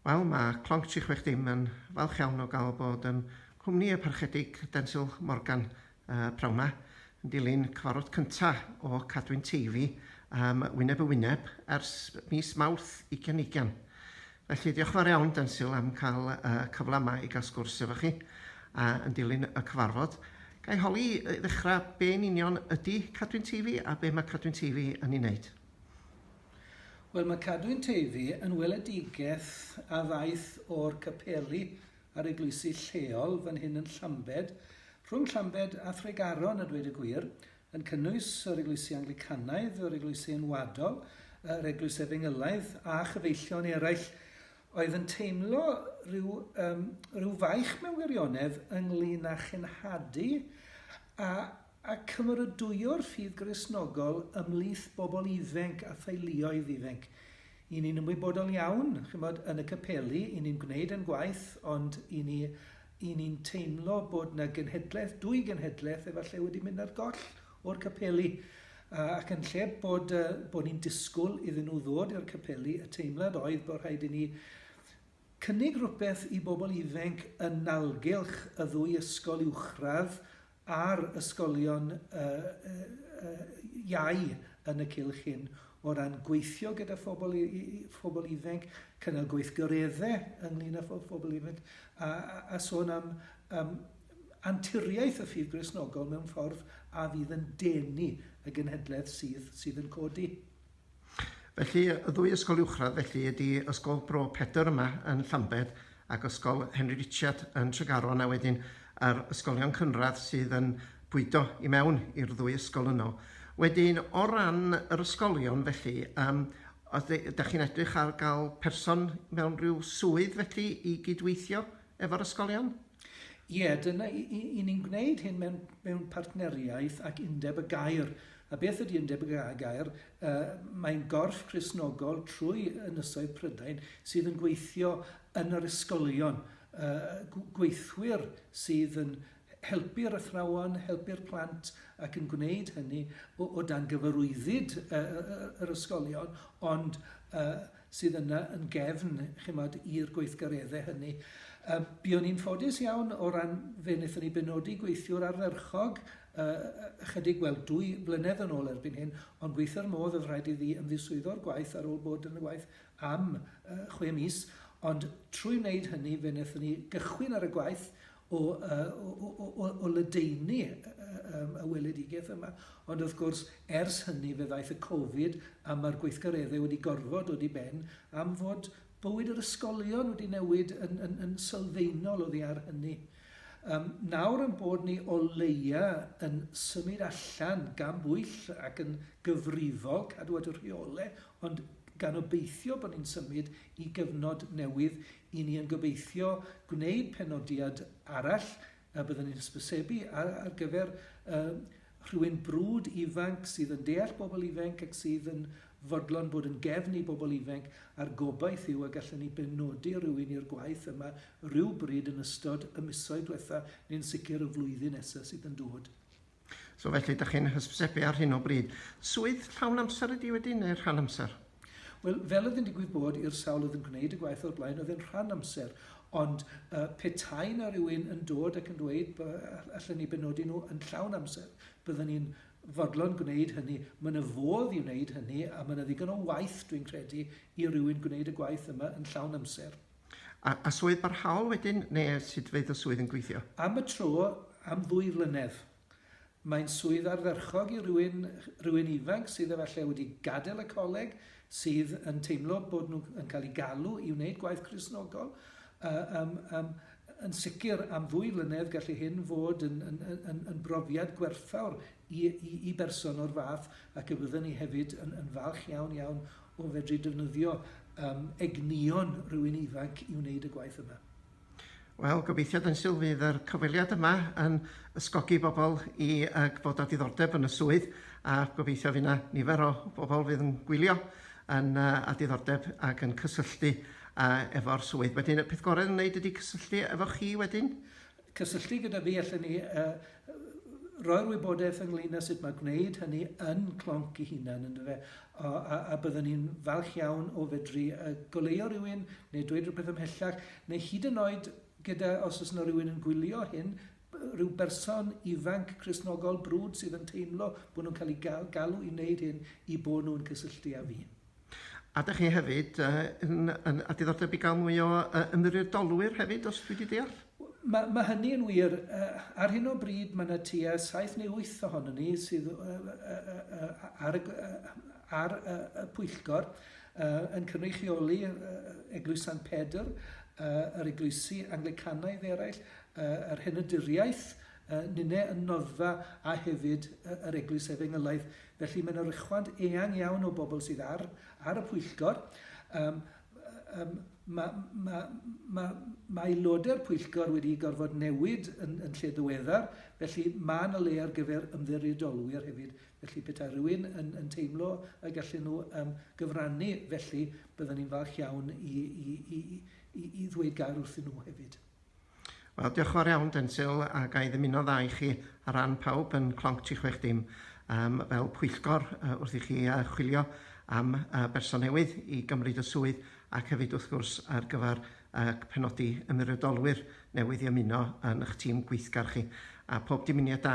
Wel, mae Clonc Tri Chwech Dim yn falch iawn o gael bod yn cwmni y Parchedig Densil Morgan uh, prawn ma, yn dilyn cyfarfod cyntaf o Cadwyn Teifi um, wyneb y wyneb ers mis Mawrth 2020. Felly, diolch yn fawr iawn, Densil, am cael y cyfle yma i gael sgwrs efo chi a yn dilyn y cyfarfod. Ga i holi i ddechrau be yn union ydy Cadwyn Teifi a be mae Cadwyn Teifi yn ei wneud? Wel, mae Cadwyn Teifi yn weledigaeth a ddaeth o'r capeli a'r eglwysi lleol fan hyn yn Llambed, rhwng Llambed a Thregaron a dweud y gwir, yn cynnwys yr Eglwysi Anglicanaidd, yr Eglwysi Enwadol, yr Eglwys Efengylaidd a chyfeillion eraill oedd yn teimlo rhyw, um, rhyw faich mewn wirionedd ynglyn â chenhadu a, a cymeradwyo'r ffydd grisnogol ymlith bobl iddfenc a theuluoedd iddfenc. I ni'n ymwybodol iawn, chymod, yn y capeli, i ni'n gwneud yn gwaith, ond i ni Y'n ni'n teimlo bod 'na genhedlaeth, dwy genhedlaeth efallai wedi mynd ar goll o'r capeli a ac yn lle bod yy bo' ni'n disgwl iddyn nhw ddod i'r capeli y teimlad oedd bo' rhaid i ni cynnig rwbeth i bobl ifenc yn nalgylch y ddwy ysgol uwchradd a'r ysgolion iau yn y cylch hyn o ran gweithio gyda phobl i- i- i- phobl ifainc, cynnal gweithgaredde ynglŷn â pho- phobl ifainc, a a a sôn am yym anturiaeth y ffydd Gristnogol mewn ffordd a fydd yn denu y genhedlaeth sydd sydd yn codi. Felly, y ddwy ysgol uwchradd felly ydi Ysgol Bro Pedr yma yn Llambed ac Ysgol Henry Richard yn Tregaron a wedyn yr ysgolion cynradd sydd yn bwydo i mewn i'r ddwy ysgol yno. Wedyn, o ran yr ysgolion felly, yym, os ydych chi'n edrych ar gael person mewn rhyw swydd felly i gydweithio efo'r ysgolion? Ie, dyna, i, i, i ni'n gwneud hyn mewn, mewn partneriaeth ac undeb y gair. A beth ydy undeb y gair? Uh, Mae'n gorff chrysnogol trwy ynysoedd Prydain sydd yn gweithio yn yr ysgolion. Uh, gweithwyr sydd yn helpu'r athrawon, helpu'r plant ac yn gwneud hynny o, o dan gyfarwyddyd uh, yr ysgolion, ond uh, sydd yna yn gefn, chimod, i'r gweithgareddau hynny. Yy, buon ni'n ffodus iawn o ran fe wnaethon ni benodi gweithiwr ardderchog yy ychydig, wel, dwy flynedd yn ôl erbyn hyn, ond gweithio'r modd oedd rhaid iddi ymddiswyddo'r gwaith ar ôl bod yn y waith am yy chwe mis, ond trwy wneud hynny fe wnaethon ni gychwyn ar y gwaith o, o, o, o ledaenu y weledigaeth yma. Ond wrth gwrs, ers hynny fe ddaeth y Covid a mae'r gweithgareddau wedi gorfod dod i ben am fod bywyd yr ysgolion wedi newid yn, yn, yn sylfaenol oddi ar hynny. Um, nawr yn bod ni o leia yn symud allan gan bwyll ac yn gyfrifol cadw at y rheole, ond gan obeithio bod ni'n symud i gyfnod newydd Y'n ni yn gobeithio gwneud penodiad arall a byddwn ni'n hysbysebu ar ar gyfer yym rhywun brwd ifanc sydd yn deall bobl ifenc ac sydd yn fodlon bod yn gefn i bobl ifenc a'r gobaith yw y gallen ni benodi rhywun i'r gwaith yma rywbryd yn ystod y misoedd dwetha neu'n sicr y flwyddyn nesa sydd yn dod. So felly, ydych chi'n hysbysebu ar hyn o bryd. Swydd llawn amser ydi wedyn, neu rhan amser? Wel, fel oedd yn digwydd bod i'r sawl oedd yn gwneud y gwaith o'r blaen, oedd yn rhan amser. Ond uh, petai na rhywun yn dod ac yn dweud allan ni benodi nhw yn llawn amser, byddwn ni'n fodlon gwneud hynny. Mae yna fodd i wneud hynny a mae yna ddigon o waith, dwi'n credu, i rywun gwneud y gwaith yma yn llawn amser. A, a swydd barhaol wedyn, neu sut fydd y swydd yn gweithio? Am y tro, am ddwy flynedd. Mae'n swydd ardderchog i rywun, rywun ifanc sydd efallai wedi gadael y coleg, sydd yn teimlo bod nhw yn cael eu galw i wneud gwaith Cristnogol. Yy yym yym yn sicr am ddwy flynedd gallu hyn fod yn yn yn yn brofiad gwerthfawr i i i berson o'r fath ac y byddwn ni hefyd yn yn falch iawn iawn o fedru defnyddio um, egnïon rhywun ifanc i wneud y gwaith yma. Wel, gobeithio yn syl fydd yr cyfweliad yma yn ysgogi bobl i uh, bod â diddordeb yn y swydd a gobeithio fydd yna nifer o bobl fydd yn gwylio yn uh, â diddordeb ac yn cysylltu uh, efo'r swydd. Wedyn y peth gorau yn wneud ydy cysylltu efo chi wedyn Cysylltu gyda fi allen ni roi'r wybodaeth ynglyn â sut mae gwneud hynny yn Clonc ei hunan, yndyfe? A, a, a byddwn ni'n falch iawn o fedru goleuo rhywun neu dweud rhywbeth ymhellach, neu hyd yn oed gyda, os oes yna rhywun yn gwylio hyn, rhyw berson ifanc Cristnogol brwd sydd yn teimlo bod nhw'n cael eu galw i wneud hyn, i bod nhw'n cysylltu â fi. A dych chi hefyd yy yn yn a diddordeb i gael mwy o yy ymddiriedolwyr hefyd os dwi 'di deall? Ma' ma' hynny yn wir. Yy ar hyn o bryd ma' 'na tua saith neu wyth ohonyn ni sydd yy yy yy ar y yy ar y y pwyllgor yy yn cynrychioli yy Eglwys Sant Pedr, yy yr eglwysi Anglicanaidd eraill, yy yr Henydiriaeth, yy ninne yn Noddfa a hefyd yy yr Eglwys Efengylaidd. Felly, mae'n oruchwant eang iawn o bobl sydd ar, ar y pwyllgor. Um, um, mae, mae, mae, mae aelodau'r pwyllgor wedi gorfod newid yn, yn lle ddiweddar, felly mae yna le ar gyfer ymddiriedolwyr hefyd. Felly petai rhywun yn, yn teimlo y gallen nhw um, gyfrannu, felly byddwn ni'n falch iawn i, i, i, i, i ddweud gair wrthyn nhw hefyd. Wel, diolch yn fawr iawn, Densil, a ga i ddymuno dda i chi ar ran pawb yn Clonc 360 um, fel pwyllgor uh, wrth i chi uh, chwilio am uh, berson newydd i gymryd y swydd ac hefyd wrth gwrs ar gyfer uh, penodi ymwiriadolwyr newydd i ymuno yn eich tîm gweithgar chi. A pob dymuniad da